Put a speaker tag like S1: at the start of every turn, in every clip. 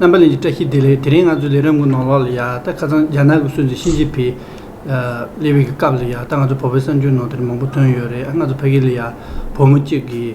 S1: རྣམ་པ་གླིང་གི་བཀྲ་ཤིས་བདེ་ལེགས་དེ་རིང་ང་ཚོའི་ལས་རིམ་གོ་ནོར་ལག་ལ་ཡག་ད་ཁ་སང་རྒྱ་ནག་གི་སྲོལ་འཛིན་ཤིན་ཅི་ཕི་ལེ་བྷི་གི་སྐབས་ལ་ཡག་ད་ང་ཚོ་བོད་པའི་གསར་འགྱུར་ནང་དེ་རིང་མང་པོ་ཐོན་ཡོད་རེད་ང་ཚོ་ཕ་གི་ལ་ཡག་བུ་མོ་གཅིག་གིས་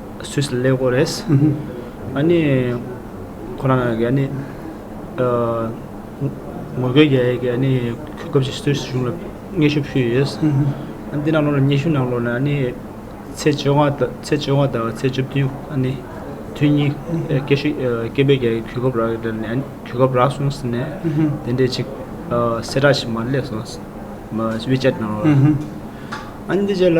S2: སུད་སི་སླེབས་དགོས་རེད། ཨ་ནི། ཁོ་རང་གིས་ཨ་ནི། ངོ་རྒོལ་རྒྱ་ཡིག་གིས་ཨ་ནི་གོ་སྐབས་ཤིག་སུད་སི་གཞུང་ལ་སྙན་ཞུ་ཕུལ་ཡོད། ཨ་ནི་འདི་ནང་ལོགས་ལ་སྙན་ཞུ་ནང་ལོགས་ནས་ཨ་ནི། ཚེས་བཅོ་ལྔ་དང་ཚེས་བཅོ་ལྔ་དང་ཚེས་བཅུ་བདུན་ཨ་ནི། དུས་གཉིས་སྐད་ཤུགས་སྐད་འབོད་རྒྱ་ཡིག་གིས་གོ་སྐབས་རག་ནས་གོ་སྐབས་རག་སོང་ཟེར་ནས་དེ་འདྲའི་ཅིག་གསལ་བསྒྲགས་ཤིག་མར་སླེབས་སོང། WeChat ནང་ལོགས་ལ། ཨ་ནི་འདི་རྗེས་ལ།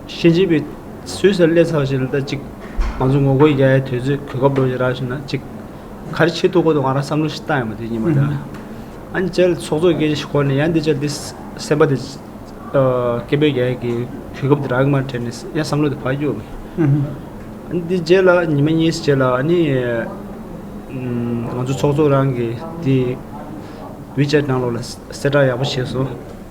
S2: ཤེས་བྱེད་པའི་ཟོས་ཟེར་སླད་ཚགས་ཤིག་ལ་ལྟ་ཅིག། ང་ཚོ་ངོ་རྒོལ་རྒྱག་ཡའི་དུས་ཚོད་གོ་སྐབས་ལོ་བཞི་རག་བཞིན་ན་ཅིག། ག་རེ་བྱེད་ཐུབ་ཁོ་ཐག་ང་རང་བསམ་བློ་ཞིག་བཏང་ཡོད་མ་རེད་སྙིང་མ་འདྲ། ཨ་ནི་བྱས་ལ་ཚོགས་གཙོ་སྐད་ཆ་ཞིག་གོ་ནས་ཡང་འདི་བྱས་འདི་སེམས་པ་དེ། སྐད་འབོད་རྒྱག་ཡས་ཀྱི་གོ་སྐབས་དེ་རག་གི་མ་དྲན་ནས་ཡང་བསམ་བློ་དེ་བག་ཡོད། ཨ་ནི་འདི་བྱས་ལ་ཉི་མ་གཉིས་བྱས་ལ་ཨ་ནི། ང་ཚོ་ཚོགས་གཙོ་རང་གིས་དེ། བྷི་ཇེ་ནང་ལོགས་ལ་གསལ་བསྒྲགས་ཡག་པོ་བྱས་སོང།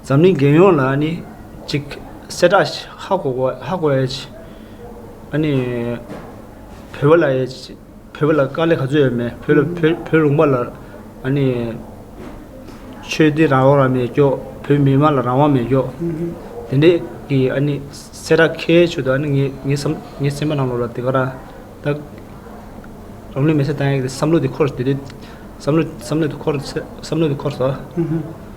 S2: འཛམ་གླིང་རྒྱལ་ཡོངས་ལ་ནི་གཅིག། གསལ་བསྒྲགས་ཧ་གོ་བ་ཧ་གོ་ཨེ་ཆེ། ཨ་ནི། བོད་པ་ལ་ཨེ་ཆེ། བོད་པ་ལ་དཀའ་ལས་ག་ཚོད་ཡོད་མེད། བོད་ལ་བོད་བོད་རུང་པ་ལ། ཨ་ནི། ཆོས་དད་རང་དབང་ར་མེད་ཀྱོག་བོད་མི་དམངས་ལ་རང་དབང་མེད་ཀྱོག། དེ་འདྲས་ཀྱི་ཨ་ནི་གསལ་བསྒྲགས་ཁའི་ཆུ་དོ་ཨ་ནི་ངའི་ངའི་སེམས་ངའི་སེམས་པ་ནང་ལོགས་ལ་དེ་ག་ར་ད། རང་ལུས་མེ་སྲེག་བཏང་ཡག་གི་བསམ་བློ་དེ་འཁོར་དེ་དུས་བསམ་བློ་བསམ་བློ་དེ་འཁོར་བསམ་བློ་དེ་འཁོར་ཟོ།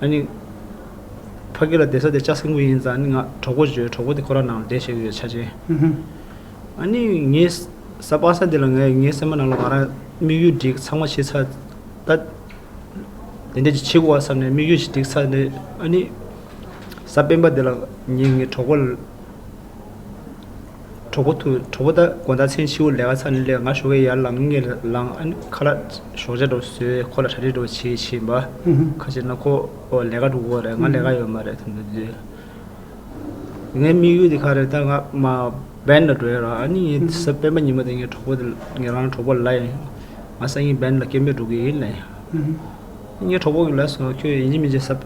S2: ཨཱ་ནི། ཕ་གི་ལ་བདེ་ས་དེ་ལྕགས་སེང་གུ་ཡིན་ཙང་ནི་ང་གྲོགས་པོ་བྱོས་གྲོགས་པོ་དེ་ཁོ་རང་ནང་ལ་བསྡད་བྱས་ཡོད་ཆ་ཅན། ཨཱ་ནི། ངའི་ས་སྤང་ས་འདི་ལ་ངའི་ངའི་སེམས་པ་ནང་ལ་ང་རང་དམིགས་ཡུལ་བསྒྲིགས་ཚང་མ་བྱས་ཚར། ད། དེ་འདྲས་ཀྱི་བྱེད་དགོས་བ་བསམ་ནས་དམིགས་ཡུལ་ཞིག་བསྒྲིགས་ཚར་ནས་ཨཱ་ནི། ས་སྤེན་པ་འདི་ལ་ངའི་ངའི་གྲོགས་པོ། གྲོགས་པོ་ཐུག་གྲོགས་པོ་ད་དགོང་ཟླ་མཚན་ཕྱི་བོ་ལས་ཀ་ཚར་ནས་སླེབས་ང་ཞོགས་ཀའི་ཡར་ལངས་ངེས་ལངས་ཨ་ནེ་ཁ་ལག་ཞོགས་ཇ་འགྲོ་ཟོས་ཁོ་ལ་གྲ་སྒྲིག་འགྲོ་བྱེད་བྱེད་འབའ་ཁ་ཤེས་ན་ཁོ་ལས་ཀ་འགྲོ་གི་རེད་ང་ལས་ཀ་ཡོད་མ་རེད་ཐུག་འདུག་ཟེར། ངའི་དམིགས་ཡུལ་དེ་ག་རེད་ད་ང་མ་བན་ལ་འགྲོ་ཡ་རོགས་ཨ་ནེ་ངའི་ཟབ་སྤེན་པ་ཉི་མ་དེ་ངའི་གྲོགས་པོ་དེ་ངེད་རང་གྲོགས་པོ་ལ་ཡིན་ང་སང་ཉིན་བན་ལ་སྐད་འབོད་འགྲོ་གི་ཡིན་ལེ་ངའི་གྲོགས་པོ་གི་ལ་སོང་ཁྱོད་ཡིན་གཅིག་མིན་གཅིག་ཟབ་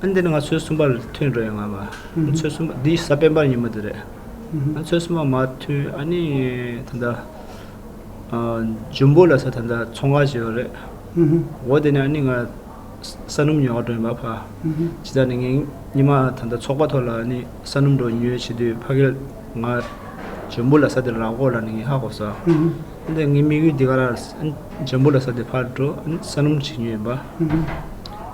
S2: ཨ་འདི་ནི་ང་ཚོའི་གསུམ་པ་མཐུན་འགྲོ་ཡོང་ང་བ། ཚོའི་གསུམ་པ་འདི་ས་པན་པར་ཉིན་མོ་དེ་རེད། ང་ཚོའི་གསུམ་པ་མ་མཐུན་ཨ་ནི་ད་ལྟ། འཇུན་པོ་ལ་ས་ད་ལྟ་ཚོང་ཁང་བྱེད་ཡོང་རེད། འོ་དེ་ནས་ཨ་ནི་ང། ས་སྣུམ་ཉོ་ག་འགྲོ་ཡོང་བ་ཕ། ཇི་ལྟར་ནི་ངའི་ཉི་མ་ད་ལྟ་ཚོགས་པ་ཐོག་ལ་ནི་ས་སྣུམ་འགྲོ་ཉོ་བྱེད་དུས་ཕ་གིར་ང། འཇོན་པོ་ལ་ས་དེར་ར་བསྐོར་ལ་ནི་ངས་ཧ་གོ་ས། ཨ་འདི་ངའི་དམིགས་ཡུལ་འདི་ག་ར། འཇོན་པོ་ལ་ས་དེ་ཕར་འགྲོ་ཨ་ནི་ས་སྣུམ་བྱེད་ཉོ་ཡོང་བ།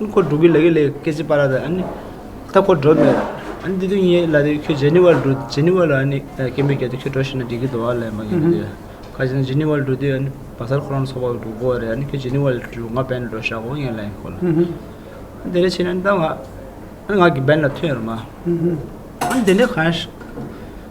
S2: ཨ་ཁོ་འགྲོ་གི་ལ་གི་ལས་སྐེ་ཚེ་པ་ར་ད་ཨ་ནི་ད་ཁོ་འགྲོ་མེད་ཨ་ནི་འདི་དུས་ངའི་ལ་དེ་ཁྱོད་ཇེ་ནི་ཝར་འགྲོ་ཇེ་ནི་ཝར་ལ་ཨ་ནི་སྐེ་མི་རྒྱབ་དེ་ཁྱོད་འགྲོ་ཤི་ན་འགྲིག་གི་འདུག་ཨ་ལས་མ་རྒན་ད་དེ་ཁ་ཇེ་ནི་ཝར་འགྲོ་དུས་ཨ་ནི་བ་སར་ཁོ་རང་ཚོགས་པ་འགྲོ་གོ་རེད་ཨ་ནི་ཁྱོད་ཇེ་ནི་ཝར་འགྲོ་ང་བན་འགྲོ་ཤག་གོ་ངའི་ལ་ཡིན་ཁོ་ལ་དེ་རེ་བྱས་ན་ད་ང་ང་གི་བན་ལ་ཐུག་ཡོད་རེད་མ་ཨ་ནི་དེ་འདྲས་གང་ཡང་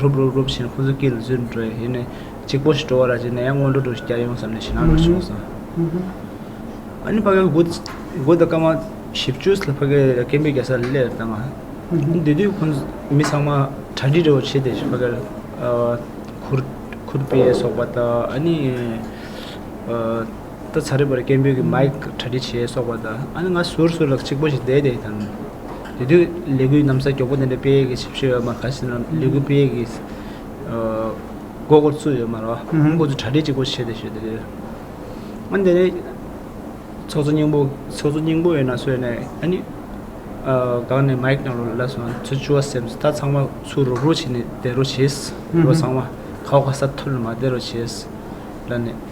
S2: རུབ་རུབ་རུབ་བཞིན་ཁོ་ཚོའི་སྐེ་ལ་བཟོས་ནས་འགྲོ་ཡ་ཡིན། གཅིག་པོ་ཞིག་འགྲོ་བ་ར་བྱས་ནས་ཡང་སྔོན་འགྲོ་འགྲོ་ཞིག་བསྐྱལ་ཡོང་བསམ་ནས་ཞེད་སྣང་འགྲོ་བཞིན་ཡོད་སོང། ཨ་ནི་ཕ་གའི་སྒོ་སྒོ་དང་སྐར་མ་བཞི་བཅུ་ལ་ཕ་གའི་སྐེད་འབེབས་རྒྱག་ས་ལ་སླེབས་དང། དེ་དུས་ཁོ་ཚོ་མི་ཚང་མ་གྲ་སྒྲིག་རེ་བ་བྱས་ཏེ་ཕ་གར་ཁུར་ཁུར་པས་སོགས་པ་དང་ཨ་ནི། ད་ཚ་རེ་བར་སྐད་འབོད་ཀྱི་མཱིག་གྲ་སྒྲིག་བྱས་སོགས་པ་དང་ཨ་ནི་ང་ཟུར་ཟུར་ལ་གཅིག་པོ་ཞིག་བསྡད་དེ་དང། དེ་དུས་ལས་འགུལ་གནམ་ས་མགྱོགས་པོ་འདི་འདྲ་སྤེལ་གྱི་ཞིབ་བཤེར་ཡོད་མ་ག་ཟེར་ན་ལས་འགུལ་སྤེལ་གྱི་མགོ་སྐོར་བཙུགས་ཡོད་མ་རོགས་ཁོང་ཚོ་གྲ་སྒྲིག་གཅིག་པོ་བྱས་ཏེ་ཞོད་དེ་དུས། ཨ་འདི་ནི་ཚོགས་གཙོ་སྙིང་པོ་ཚོགས་གཙོ་སྙིང་པོ་ཡིན་ན་གསོལ་ནས་ཨ་ནི་སྒང་ནས་མཱིག་ནང་རུ་བསླེབས་སོང་ཚུར་བཅུག་བ་སེམས་ད་ཚང་མ་ཚུར་རུག་རུག་བྱས་ནས་བསྡད་རོགས་བྱས། རོགས་ཚང་མ་ཁ་བ་ཁ་ས་ཐུར་ལ་མ་བསྡད་རོགས་བྱས། ལར་ནས།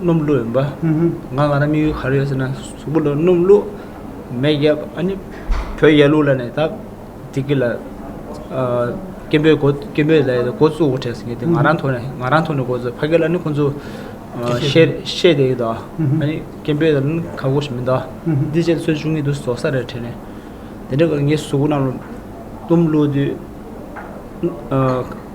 S2: སྣུམ་བླུག་ཡིན་པ། ང་ང་རང་མི་ཡུལ་ག་རེ་ཡོད་ཟེར་ན་གཟུགས་པོ་ལ་སྣུམ་བླུག་མེ་བརྒྱབ་ཨ་ནི་བོད་ཡར་ལུགས་ལ་ནས་ད་དེ་གི་ལ་སྐད་འབོད་འགོ་སྐད་འབོད་ལ་འགོ་བཙུགས་འོ་བྲལ་ཟེར་གི་དེ་ང་རང་ཐོག་ནས་ང་རང་ཐོག་ནས་འགོ་བཙུགས་ཕ་སྐད་ལ་ནི་ཁོང་ཚོ་བཤད་བཤད་བསྡད་ཡོད་དོ་ཨ་ནི་སྐད་འབོད་ལ་ནི་ཁ་གོ་ཞེས་མིན་ཏོ་འདི་བྱས་ཏེ་ཚོད་བཅུག་ངེས་འདུག་ཟོག་ས་རེ་བྲལ་ནས་དེ་འདྲ་གི་ངའི་གཟུགས་པོ་རྣམས་ལ་སྣུམ་བླུག་དུས་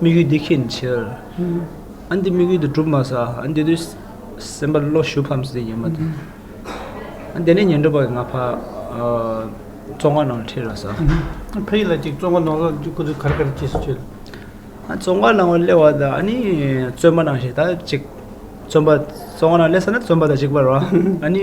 S2: དམིགས་ཡུལ་འདི་ཁེགས་ནས་ཕྱིར། ཨ་འདི་དམིགས་ཡུལ་འདི་གྲུབ་མ་ཟ། ཨ་འདི་དུས་སེམས་པ་བློ་ཞུགས་ཕམ་ཟེར་ཉི་མ་དེ། ཨ་འདི་ནས་ཉན་སྒྲུབ་པ་ང་ཕ། བཙོང་བ་ནང་ལ་ཁྲིད་རོགས་ཟ། ཕ་ཡིད་ལ་ཅིག་
S1: བཙོང་བ་ནང་ལ་ཅིག་ཁུ་ཚུར་གར་གར་གྱིས་སུ་བཅོལ། ཨ་བཙོང་བ་
S2: ནང་ལ་སླེབས་བ་དང་ཨ་ནི་བཙོན་པ་ནང་ཞིག་དང་ཅིག། བཙོན་པ་བཙོང་བ་ནང་སླེབས་ས་ན་བཙོན་པ་དང་ཅིག་པར་རོ། ཨ་ནི།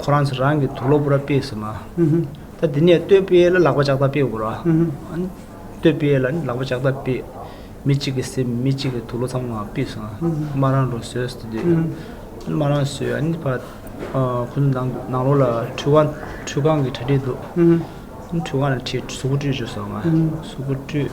S2: ཁོ་རང་ཚོ་རང་གི་དུག་ལོག་པོ་ར་སྤེལ་ཟེར་མ། ད་དེ་ནས་བསྟོད་དཔལ་ལ་ལག་པ་ལྕགས་ཐག་སྤེལ་དགོས་ར། བསྟོད་དཔལ་ལ་ནི་ལག་པ་ལྕགས་ཐག་སྤེལ། མི་གཅིག་གི་སེམས་མི་གཅིག་གི་དུག་ལོག་ཚང་མ་སྤེལ་སོང། དམར་རང་རོ་བཟོས་ཏེ་སྡོད། དམར་རང་བཟོས་ཨ་ནི་བར། ཁོ་ཚོ་ནང་ནང་ལོགས་ལ་ཁྲུས་ཁང་ཁྲུས་ཁང་གི་གྲ་སྒྲིག་འདུག། ཁྲུས་ཁང་ལ་ཁྲིད་གཟུགས་པོ་བཀྲུས་བཅུག་སོང། གཟུགས་པོ་བཀྲུས།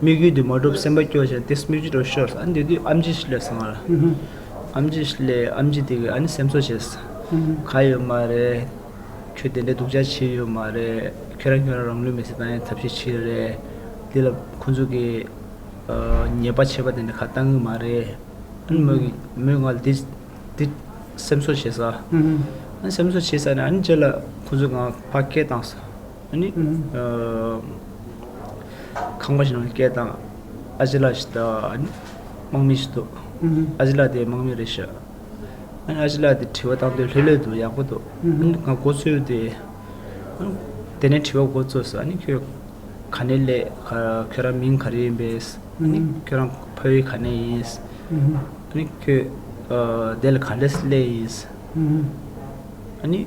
S2: དམིགས་ཡུལ་དུ་མ་གྲུབ་སེམས་པ་སྐྱོ་ཞིང་དེ་སྨིག་རྒྱུ་རུ་ཤོར། ཨ་འདི་དུས་ཨམ་ཆི་ཞིག་ལས་སོང། ཨམ་ཆི་ཞིག་ལས་ཨམ་ཆི་དེ་གས་ཨ་ནི་སེམས་གསོ་བྱས། ག་ཡོད་མ་རེད། ཁྱོད་དེ་འདྲའི་སྡུག་ཅག་བྱེད་ཡོད་མ་རེད། ཁྱོད་རང་ཁྱོད་རང་རང་ལུས་མེ་བསྲེགས་བཏང་ཡང་ཐབས་ཤེས་ཆེ་གི་རེད། དེ་ལ་ཁོ་ཚོ་གིས་ཉེས་པ་བྱས་པ་དེ་འདྲ་ཁ་བཏང་གི་མ་རེད། ཨ་ནི་མོས་ང་ལ་དེ་སེམས་གསོ་བྱས། ཨ་ནི་སེམས་གསོ་བྱས་ས་ནས་ཨ་ནི་རྗེས་ལ་ཁོ་ཚོ་ང་ཕ་སྐད་བཏང། ནི། ཁང་པ་ཞིག་ནང་སྐད་དང། ཨ་ཅེ་ལ་ཞིག་དང། དམག་མི་ཞིག་འདུག། ཨ་ཅེ་ལ་དེ་དམག་མི་རེད་ཤག། ཨ་ཅེ་ལ་དེ་དྲི་བ་བཏང་དོན་ལྷོད་ལྷོད་འདུག་ཡག་པོ་འདུག། ང་འགོ་ཚུགས་ཏེ། དེ་ནས་དྲི་བ་འགོ་བཙུགས་སོ། ཁྱོད་ག་ནས་སླེབས། ཁྱོད་རང་མིང་ག་རེ་ཡིན་པས། ཁྱོད་རང་ཕ་ཡུལ་ག་ནས་ཡིན། ཁྱོད་བདེ་ལ་ག་ལས་སླེབས་ཡིན།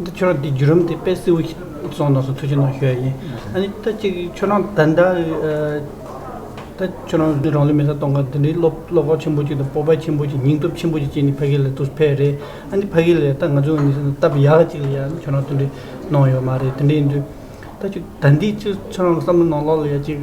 S2: འདི་
S1: ཁྱོད་རང་འདི་བརྒྱུད་རིམ་དེ་པད་སེའུ་ཡི་ཚོགས་ནང་སོང་ཐུགས་ཆེ་གནང་ཞུ་ཡ་ཡིན། ཨ་ནི་ད་ཅིག་ཁྱོད་རང་ད་ལྟ། ད་ཁྱོད་རང་རང་ལུས་མེ་སར་གཏོང་སྐབས་འདི་འདྲའི་བློ་བློ་ཁོག་ཆེན་པོ་ཅིག་དང་སྤོབས་པ་ཆེན་པོ་ཅིག་སྙིང་སྟོབས་ཆེན་པོ་ཅིག་བསྐྱེད་ནས་ཕ་གི་ལས་དུར་ཕེབས་རེད། ཨ་ནི་ཕ་གི་ལས་ད་ང་ཚོས་ངོས་ནས་བལྟ་བ་ཡག་ཅིག་ལ་ཡ་ཁྱོད་རང་དེ་འདྲའི་གནང་ཡོད་མ་རེད་དེ་འདྲའི་འདུག་ད་ཅིག་ད་འདི་ཅིག་ཁྱོད་རང་ལ་བསམ་བློ་གནང་ལོག་ལ་ཡ་ཅིག།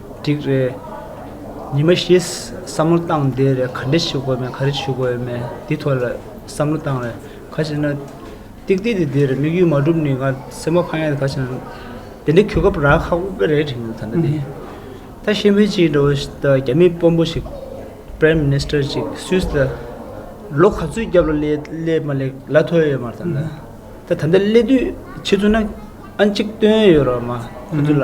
S1: འགྲིག་རེད། ཉི་མ་ཞེས་བསམ་བློ་བཏང་བསྡད་རེད་ག་འདྲ་ཞུ་དགོས་མེད་ག་རེ་ཞུ་དགོས་མེད་འདི་ཐོག་ལ་བསམ་བློ་བཏང་རེད་ག་ཞེ་ན། ཏིག་ཏིག་དེ་འདིར་དམིགས་ཡུལ་མ་འགྲུབ་ནི་ང་སེམས་པ་འཕང་ཡ་ག་ཞེ་ན། དེ་འདྲའི་གུས་སྐབས་རག་ཧ་གོ་གི་རེད་དྲན་གྱི་ཡོད་ད་ལྟ་དེ། ད་ཤེས་མེད་ཅིག་འགྲོ་བ་ཞིག་ད་རྒྱ་མི་དཔོན་པོ་ཞིག Prime Minister ཅིག་སུས་ད་ལོ་ག་ཚོད་རྒྱབ་ལ་སླེབས་མ་སླེབས་ལ་ཐོས་ཡོད་མ་རེད་ད། ད་ད་ལྟ་སླེབས་དུས་ཕྱི་ཚུལ་ན་ཨ་གཅིག་སྟོན་ཡོད་རོགས་མ་ཁོ་ཚོ་ལ།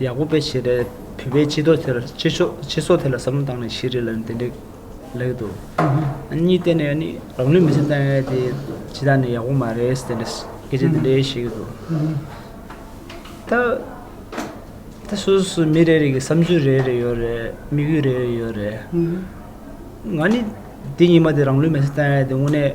S1: ཡག་པོ་སྤེལ་བྱས་རེད། བོད་པའི་སྤྱི་ཚོགས་དེར་སྤྱི་ཚོགས་སྤྱི་ཚོགས་དེ་ལ་བསམ་བློ་བཏང་ནས་ཤེས་རིག་ལ་འདི་འདྲའི་ལེགས་འདུག་གཉིས་བལྟས་ནས་ནི་རང་ནུས་མི་ཚེ་བཏང་ཡས་དེ་ཇི་ལྟར་ནས་ཡག་པོ་མ་རེད་ཟེར་ནས་སྐད་ཆ་འདི་འདྲའི་བཤད་ཀྱི་འདུག་ད་ད་སོ་སོ་མི་རེ་རེ་གི་བསམ་ཚུལ་རེ་རེ་ཡོད་རེད་དམིགས་ཡུལ་རེ་རེ་ཡོད་རེད་ང་ནི་འདི་ཉིན་མ་དེ་རང་ལུས་མེ་ཚེ་བཏང་ཡས་དེ་དངོས་གནས།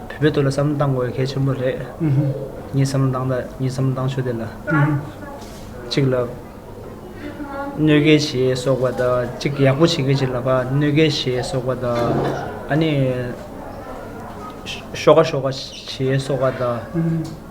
S2: བོད་པའི་དོད་ལ་བསམ་བློ་གཏང་དགོས་གལ་ཆེན་པོ་རེད། ངས་བསམ་བློ་གཏང་ད་ངས་བསམ་བློ་གཏང་ཆོག་དེ་ལ། གཅིག་ལ། གནོད་འགལ་ཞེས་སོགས་པ་དང་གཅིག་ཡག་པོ་བྱེད་མཁན་ཞིག་ལ་ཕ་གནོད་འགལ་ཞེས་སོགས་པ་དང། ཨ་ནི། ཤོག་ཁ་ཤོག་ཁ་ཞེས་སོགས་པ་དང།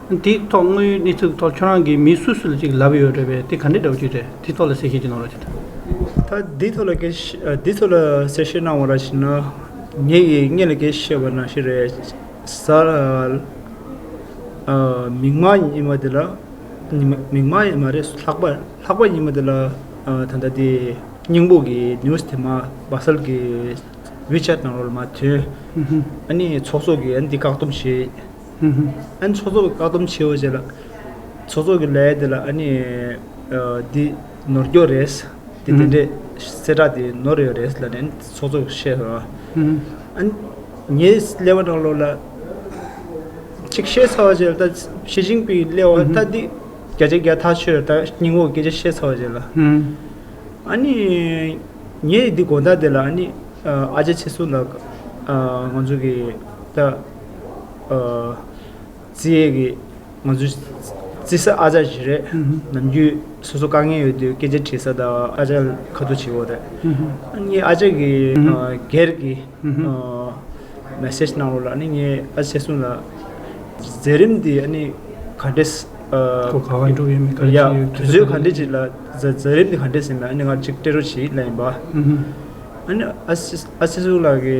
S1: དེ་ཐོག་དངོས་ཡོད་གནས་ཚུལ་ཐོག་ཁྱོད་རང་གིས་མི་སུ་སུ་ལ་ཅིག་ལབ་ཡོད་རེད་པས་དེ་ག་འདྲའི་འདྲ་བོ་ཅིག་རེད་དེ་ཐོག་ལ་གསལ་བཤད་ཅིག་གནང་རོགས་བྱོས། ད་
S2: འདི་ཐོག་ལ་གསལ་བཤད་གནང་བ་ར་ཤི་ན། ངེད་ཀྱིས་དངོས་ལ་གསལ་བཤད་བ་ནང་ཤི་རེད། ཟ། མིག་མ་ཉི་མ་དེ་ལ། མིག་མ་ཡིན་མ་རེད་ལྷག་པ་ལྷག་པ་ཉི་མ་དེ་ལ། ད་ལྟ་དེ་སྙིང་པོ་གི news དེ་མ་སྦག་སལ་གི wechat ནང་ལ་མ་ཐོན། ཨ་ནི་ཚོགས་གཙོ་གིས་འདི་བཀག་སྡོམ་བྱས། ཧུ་ཧུ། ཨ་ནི་ཚོགས་གཙོ་བཀག་སྡོམ་བྱས་ཡོད་ཟེར། ཚོགས་གཙོ་གི་ལས་དེ་ལ་ཨ་ནི། འདི་ནོར་འཁྱོག་རེད། འདི་དེ་འདྲས། གསལ་བསྒྲགས་དེ་ནོར་ཡོད་རེད་ལ་ནི་ཚོགས་གཙོ་བཤད་ཟེར། ཨ་ནི། ངའི་ཀླད་པ་ནང་ལོག་ལ། གཅིག་བཤད་ཚར་བ་ཟེར་ད། ཞི་ཅིང་པིང་གི་ཀླད་བ་ད་འདི། བརྒྱ་ཆ་བརྒྱ་ཐག་ཆོད་ད་སྙིང་བོ་སྐད་ཆ་བཤད་ཚར་བ་ཟེར། ཨ་ནི། ངས་འདི་དགོངས་དག་དེ་ལ་ཨ་ནི། ཨ་ཅག་ཆེ་སུ་ལ། ང་ཚོ་གི་ད། རྩིས་ཨེ་གི། ང་ཚོའི། རྩིས་ས་ཨ་ཅག་བཞི་རེད། ནམ་རྒྱུན། སོ་སོ་དཀའ་ངལ་ཡོད་དུས་སྐད་ཆ་དྲིས་ས་དང་ཨ་ཅག་ཁ་ཐུག་བྱེད་འོ་རེད། ཨ་ནི་ཨ་ཅག་གིས། སྒེར་གྱི། message གནང་རོགས་ལ་ནི་ངས་ཨ་ཅག་གསུངས་ལ། མཛད་རིམ་འདི་ཨ་ནི། ག་འདྲེ། ཁོ་ག་བ་འགྲོ་གི་ཡོད་
S1: མེད་ག་རེ་བྱེད་ཡོད། དུས་ཚོད་ག་འདྲེ་
S2: ཅིག་ལ་མཛད་རིམ་འདི་ག་འདྲེ་ཟེར་ན་ཨ་ནི་ང་གཅིག་སྤྲད་རོགས་བྱེད་ལ་ཡིན་པ། ཨ་ནི་ཨ་ཅག་གསུངས་ལ་གི།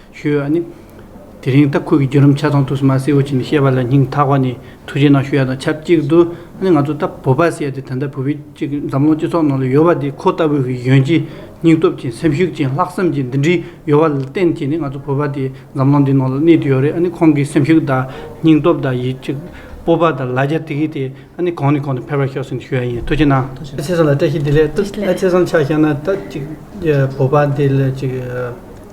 S1: ཞུས་ཡོད་ནི། དེ་རིང་ལྟ་ཁུལ་གྱི་བརྒྱུད་རིམ་ཆ་ཚང་ཐུགས་སུ་མ་སེར་བོ་ཆེ་ནས་བཤད་པ་ལ་སྙིང་ཐག་པ་ནས་ཐུགས་རྗེ་གནང་ཞུ་ཡ་དང་ཆབས་ཅིག་ཏུ་ནི་ང་ཚོ་ལྟ་བུ་བ་སེར་དེ་ད་ལྟ་བོད་པའི་སྤྱི་འཛམ་གླིང་སྤྱི་ཚོགས་ནང་ལ་ཡོད་པ་དེ་ཁོ་ལྟ་བུ་ཞིག་ཡོན་ཅིག་སྙིང་སྟོབས་ཅན་སེམས་ཤུགས་ཅན་ལྷག་བསམ་ཅན་འདི་འདྲི་ཡོད་པ་ལ་བརྟེན་གྱི་ནི་ང་ཚོ་བོད་པ་དེ་འཛམ་གླིང་འདི་ནང་ལ་གནས་དུ་ཡོད་རེད་ཨ་ནི་ཁོང་གི་སེམས་ཤུགས་དང་སྙིང་སྟོབས་དང་ཡིད་ཆེས་སྤོབས་པ་དང་ལ་རྒྱ་དེ་གིས་དེ་ཨ་ནི་གོང་ནས་གོང་དུ་འཕེལ་བར་ཤོག་ཟེར་ནས་ཞུ་ཡ་ཡིན་ཐུགས་རྗེ་གནང། ཨ་ཆེ་སང་ལ་བཀྲ་ཤིས་བདེ་ལེགས་ཨ་ཆེ་སང་ཆ་ཤས་ན་ད་ཅིག་བོད་པ་འདི་ལ་ཅིག།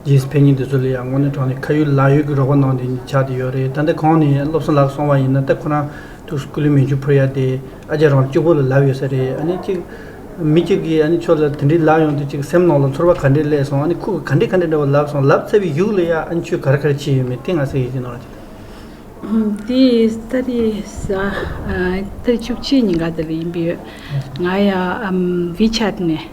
S1: རྗེས་ཕན་གཉིས་འདི་ཚོ་ལས་ཡག་ངོ་ནས་དྲང་ནས་ཁ་ཡོད་ལག་ཡོད་ཀྱི་རོགས་པ་གནང་དེ་ནི་ཆགས་དེ་ཡོད་རེད་ད་འདི་གང་ནས་སློབ་གསོ་ལག་སོང་བ་ཡིན་ན་ལྟ་ཁོ་རང་ཐུགས་སུ་ཀུ་ལུས་མེ་ཆུ་འཕུར་ཡ་དེ་ཨ་ཅག་རང་གཅིག་པོ་ལ་ལབ་ཡོད་ས་རེད་ཨ་ནི་གཅིག་མི་གཅིག་གིས་ཨ་ནི་ཁྱོད་ལ་དེ་འདྲའི་ལབ་ཡོང་དུས་གཅིག་སེམས་ནང་ལ་ཚོར་བ་ག་འདྲའི་སླེབས་སོང་ཨ་ནི་ཁུག་ག་འདྲའི་ག་འདྲའི་འདྲ་བོ་ལབ་སོང་ལབ་ཚར་བའི་ཡུག་ལ་ཡ་ཨ་ནི་ཁྱོད་ག་ར་ག་ར་བྱས་ཡོད་མེད་དེ་ང་གསལ་ཡོད་ཀྱི་ནང་དེ་ལྟ་རེད་
S3: ས་ཨ་ལྟར་བཅུ་གཅིག་ཉིན་ག་ལྟར་ཡིན་པའི་ཡོད་ང་ཡང་བྷི་ཆད་ནས་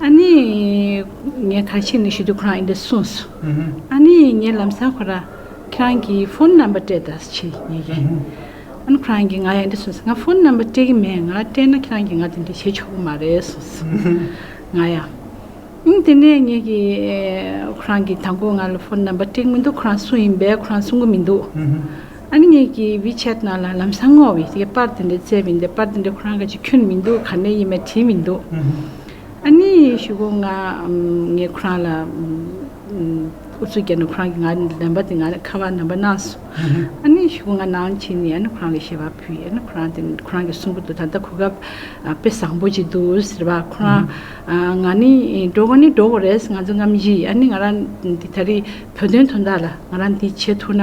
S3: ཨཱ་ནི། ངས་ཐང་ཆེན་ནས་ཞུ་དུས་ཁོ་རང་ཡིན་པས་གསུངས་སོ། ཨཱ་ནི། ངས་ལམ་སང་ཁོ་རང་ཁྱེད་རང་གི་ཕོན་རྣམ་པ་སྤྲད་ད་ཕྱིར་ཉེ་གི། ཨཱ་ནི་ཁོ་རང་གིས་ང་ཡང་འདི་གསུངས་སོ་ང་ཕོན་རྣམ་པ་སྤྲད་གི་མེད་ང་སྤྲད་ན་ཁྱེད་རང་གིས་ང་དེ་འདྲས་བྱེད་ཆོག་གི་མ་རེད་གསུངས་སོ། ང་ཡང། དེ་ནས་ངས་ཀྱི། ཁོ་རང་གིས་ད་མགོ་ང་ལ་ཕོན་རྣམ་པ་སྤྲད་གི་མི་འདུག་ཁོ་རང་སུ་ཡིན་པས་ཁོ་རང་གསུང་གི་མི་འདུག། ཨཱ་ནི་གྱི་བི་ཆད་རྣམས་ལ་ལམ་སང་བསྔོ་བས་དེ་པར་དེ་འདྲའི་བཙལ་མི་འདུག་པར་དེ་འདྲའི་ཁོ་རང་གི་ཆེད་ཁྱོན་མི་འདུག་ག་ནས་ཡིན་མེད་དྲིས་མི་འདུག་ཨཱ་ནི་ཞུ་གོ་ང་ངས་ཁོ་རང་ལ་ཨུ་ཚུགས་བརྒྱབ་ནས་ཁོ་རང་གི་ང་ལན་པ་དེ་ང་ཁ་བ་ནང་པ་གནང་སོང་ཨཱ་ནི་ཞུ་གོ་ང་ནང་ཕྱིན་ནས་ཨཱ་ནི་ཁོ་རང་ལ་ཞལ་པར་ཕུལ་ཡས་ཨཱ་ནི་ཁོ་རང་དེ་ཁོ་རང་གི་གསུང་པོ་དུ་ད་ལྟ་གོ་སྐབས་དཔེ་བཟང་པོ་ཅིག་འདུག་ཟེར་བ་ཁོ་རང་ང་ནི་འགྲོ་གོ་ནི་འགྲོ་གོ་རེད་ང་ཚོ་རྔམ་བཞི་ཡིས་ཨཱ་ནི་ང་རང་འདི་ད་རིས་བོད་དོན་དོན་དག་ལ་ང་རང་འདི་བྱེད་ཐུག་ན།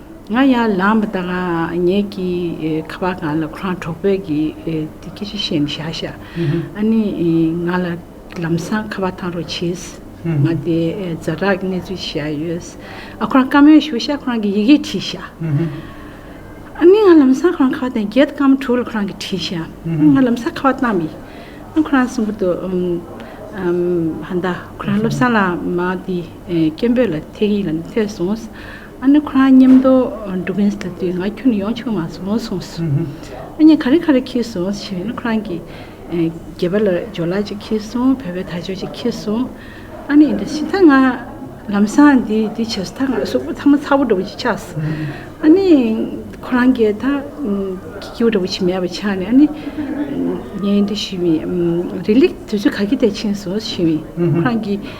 S3: ང་ཡང་ལག་མི་བཏགས་ངེད་ཀྱི་ཁ་པར་སྒང་ལ་ཁོ་རང་གྲོགས་པོས་ཀྱི་དེ་ཀི་རི་ཤེས་མི་ཤ་ཤ་ཨ་ནི་ང་ལ་ལམ་སང་ཁ་པར་ཐང་རོགས་བྱེད་ང་དེ་རྫ་དྲག་གི་གནས་ཚུལ་ཤ་ཡོད་ཨ་ཁོ་རང་བཀའ་མོལ་ཞུ་ཤ་ཁོ་རང་གི་ཡི་གེ་བྲིས་ཤ་ཨ་ནི་ང་ལམ་སང་ཁོ་རང་ཁ་བར་དེ་རྒྱལ་དུ་བཀའ་མོ་དྲུག་ལ་ཁོ་རང་གི་བྲིས་ཤ་ང་ལམ་སང་ཁ་བར་བཏང་མི་ཨ་ཁོ་རང་གསུང་པོ་ཏོ་ཧན་ད་ཁོ་རང་སློབ་སང་ལ་མ་དེ་སྐད་འབོད་ལ་ཐེག་ཡིག་ལ་ཐེག་སོང་ཨ་ནེ་ཁོ་རང་ཉམས་དོ་འགྲོ་གིན་ཟེར་དུས་ང་ཁྱོད་ནི་ཡོང་ཆོག་མ་སོང་གསུངས་སོ། ཨ་ནེ་ག་རེ་ག་རེ་ཁྱེར་སོང་ཞེས་ཨ་ནེ་ཁོ་རང་གིས། སྒྱེད་པ་ལ་སྦྱོར་ལག་ཅིག་ཁྱེར་སོང་བལ་བོའི་དར་ཅོག་ཅིག་ཁྱེར་སོང། ཨ་ནེ་འདི་ཕྱི་ཐག་ང། ལམ་སང་འདི་འདི་བྱས་སོ་ཐག་ང་གསུག་པོ་ཐ་མ་ཚ་བོ་འདྲ་བོ་ཅིག་ཆགས་སོ། ཨ་ནེ། ཁོ་རང་གིས་ད། སྐྱིད་པོ་འདྲ་བོ་ཅིག་མེད་པ་ཆགས་ནས་ཨ་ནེ། ངའི་འདི་ཞུས་མི། རི་ལི་དུས་ཚོད་ག་གེ་དེར་ཕྱིན་སོང་ཞུས་མི། ཁོ་རང་གིས།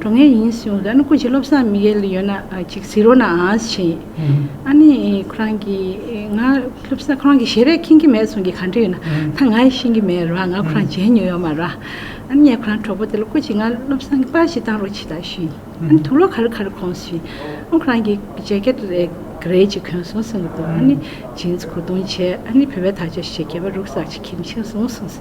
S3: འགྲོ་ངེས་ཡིན་གསུངས་ཨ་ནི་སྐུ་ཞིག་བློ་བཟང་མི་ཡལ་ཡོད་ན་ཅིག་གཟིགས་རོགས་གནང་ཞེས། ཨ་ནི་ཁོ་རང་གིས་ང་བློ་བཟང་ཁོ་རང་གི་ཞལ་རས་མཁྱེན་གྱི་མེད་གསུངས་ཀྱི་ག་འདྲ་ཡོད་ན་ད་ང་ཡིས་ཤེས་ཀྱི་མེད་རོགས་ང་ཁོ་རང་མཇལ་མྱོང་ཡོད་མ་རོགས། ཨ་ནི་ངས་ཁོ་རང་གྲོགས་པོ་དེ་ལ་སྐུ་ཞིག་ང་བློ་བཟང་གི་པར་ཞིག་བཏང་རོགས་ཅིག་དང་ཞུས། ཨ་ནི་ཐུགས་ལོ་ག་རེ་ག་རེ་གོང་ཞུས། ཨོ་ཁོ་རང་གིས་ཇེ་ཀེ་ཏི་རེད་ག་རེ་ཅིག་གོན་སོང་གསུངས་ཀྱི་འདུག་ཨ་ནི་ཇིན་ཚི་གོ་བརྡུང་བྱས་ཨ་ནི་བུད་པའི་དར་ཆ་ཞིག་གྱེས་པ་རུག་སར་ཅིག་ཁྱེར་མཁྱེན་སོང་གསུངས།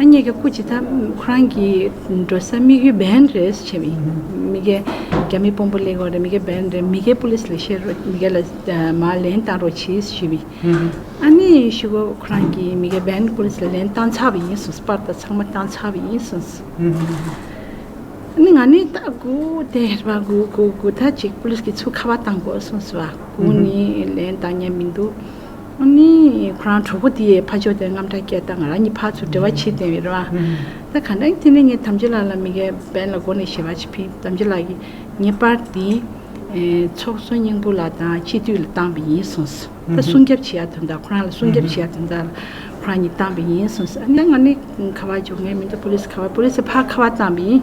S3: ཨ་མྱེས་ཀྱི་སྐུ་ཇི་ལྟར་ཁོ་རང་གི་འགྲོ་ས་དམིགས་ཡུལ་བན་རེད་ཟེར་བྱས་པ་ཡིན། མི་རྒན། རྒྱ་མི་དཔོན་པོ་ལེགས་ཡོད་རེད་མི་རྒན་བན་རེད་མི་རྒན་པུ་ལིས་ལ་བཤད་རོགས་མི་རྒན་ལ་མ་ལན་བཏང་རོགས་གྱིས་ཞུས་པས། ཨ་མྱེས་ཡེ་ཤུ་ཁོ་རང་གིས་མི་རྒན་བན་པུ་ལིས་ལ་ལན་བཏང་ཚར་བ་ཡིན་གསུངས་སོ་པར་ད་ཚང་མ་བཏང་ཚར་བ་ཡིན་གསུངས་སོ། ཨ་མྱེས་ང་ནི་ད་དགུ་དེ་རེད་པ་དགུ་དགུ་དགུ་ད་ཅིག་པུ་ལིས་ཀྱི་ཚུགས་ཁ་བ་བཏང་དགོས་གསུངས་སོ། དགུ་ནི་ལན་བཏང་ཉན་མི་འདུག། ཨོ་ནི། ཁོ་རང་གྲོགས་པོ་དེས་ཕ་ཆོས་དེར་རྔམ་སྐྲག་སྐྱེས་སྟངས་ང་རང་གི་ཕ་ཚུར་འབྲེལ་བ་བྱེད་བསྟན་ཡོད་རེད་བ། ད་གང་དྲན་དེ་ནས་ངས་དམ་ཆོས་ལགས་ལ་མི་ག་བན་ལ་སྒོ་ནས་ཞེ་བ་བྱེད་ཕིན་དམ་ཆོས་ལགས་ཀྱིས་ངེས་པར་དེ། ཚོགས་གསོག་སྙིང་པོ་ལ་དང་སྤྱི་འཐུས་ལ་བཏང་བས་ཡིན་གསུངས་སོ། ད་སྲུང་སྐྱབས་བྱེད་ཡ་དོན་དང་ཁོ་རང་ལ་སྲུང་སྐྱབས་བྱེད་ཡ་དོན་དག་ལ་ཁོ་རང་གཉིས་བཏང་བས་ཡིན་གསུངས་སོ། ཨ་ནི་ད་ང་ནི་ཁ་བ་བྱུང་ངས་མི་འདུག་པོ་ལིས་ཁ་བ་པོ་ལིས་ཕ་ཁ་བ་བཏང་བས་ཡིན།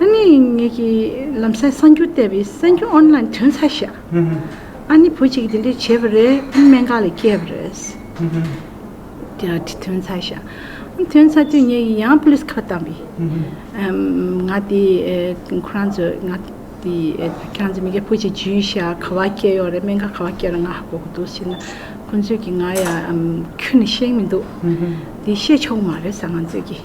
S3: ཨ་ནི་ངེད་ཀྱི་ལམ་སེང་གསར་འགྱུར་བལྟས་པའི་གསར་འགྱུར་ཨོན་ལན་དོན་ཚ་ཤ་ཨ་ནི་བུ་གཅིག་གིས་དེ་འདྲས་བྱས་པ་རེད་ཨ་ནི་སྨན་ཁང་ལས་སྐྱེས་པ་རེད། དེ་ར་དེ་དོན་ཚ་ཤ་ཨ་དོན་ཚ་དུས་ངེད་ཀྱིས་ཡང police ཁ་བཏང་པས། ང་དེ་ཁོ་རང་ཚོས་ང་དེ་ཁྱེད་རང་ཚོས་མི་སྐྱ་བུ་གཅིག་བྱུས་ཤ་ག་བ་སྐྱེས་ཡོད་རེད་སྨན་ཁང་ག་བ་སྐྱེས་རེད་ང་ཧ་གོ་གི་འདུག་ཟེར་ན་ཁོ་ཚོས་ཀྱིས་ང་ཡང་ཁྱོད་ནི་ཤེས་ཀྱི་མི་འདུག་དེ་བཤད་ཆོག་གི་མ་རེད་ཟེར་ང་ཚོས་ཀྱིས།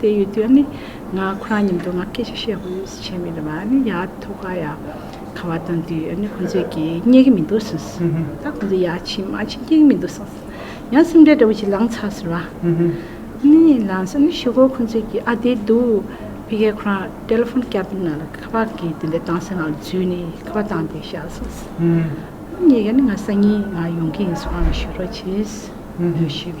S3: དེ་ཡོད་དུས་ནི་ང་ཁོ་རང་མཉམ་དུ་ང་སྐད་ཆ་བཤད་དགོས་བྱས་མེད་པ་ནི་ཡག་ཐོག་ཁ་ཡག་ཁ་བ་བཏང་དུས་ནི་ཁོང་ཚོས་ཀྱིས་རྙེད་གི་མི་འདུག་གསུངས་སོང་ད་ཁོང་ཚོས་ཡག་ཕྱིན་མ་ཕྱིན་རྙེད་གི་མི་འདུག་གསུངས་སོང་ཡང་སེམས་ཁྲལ་འདྲ་བོ་ཞིག་ལངས་ཚར་ཟེར་བ། ནི་ལངས་སོང་ནི་ཞོགས་གོ་ཁོང་ཚོས་ཀྱིས་ཨ་དེ་འདུག་ཕི་ཁེ་ཁོ་རང་ཏེ་ལོ་ཕོན་བསྐྱར་དུ་ང་ལ་ཁ་བ་གིས་དེ་འདྲ་བཏང་སོང་ང་ལ་བརྫུས་ནས་ཁ་བ་བཏང་དེ་བཞག་སོང་ཟེར། ངས་ཀྱང་ནི་ང་སང་ཉིན་ང་ཡོང་གི་ཡིན་གསུངས་ཨ་ལ་ཞུ་རོགས་བྱས། ཞུས།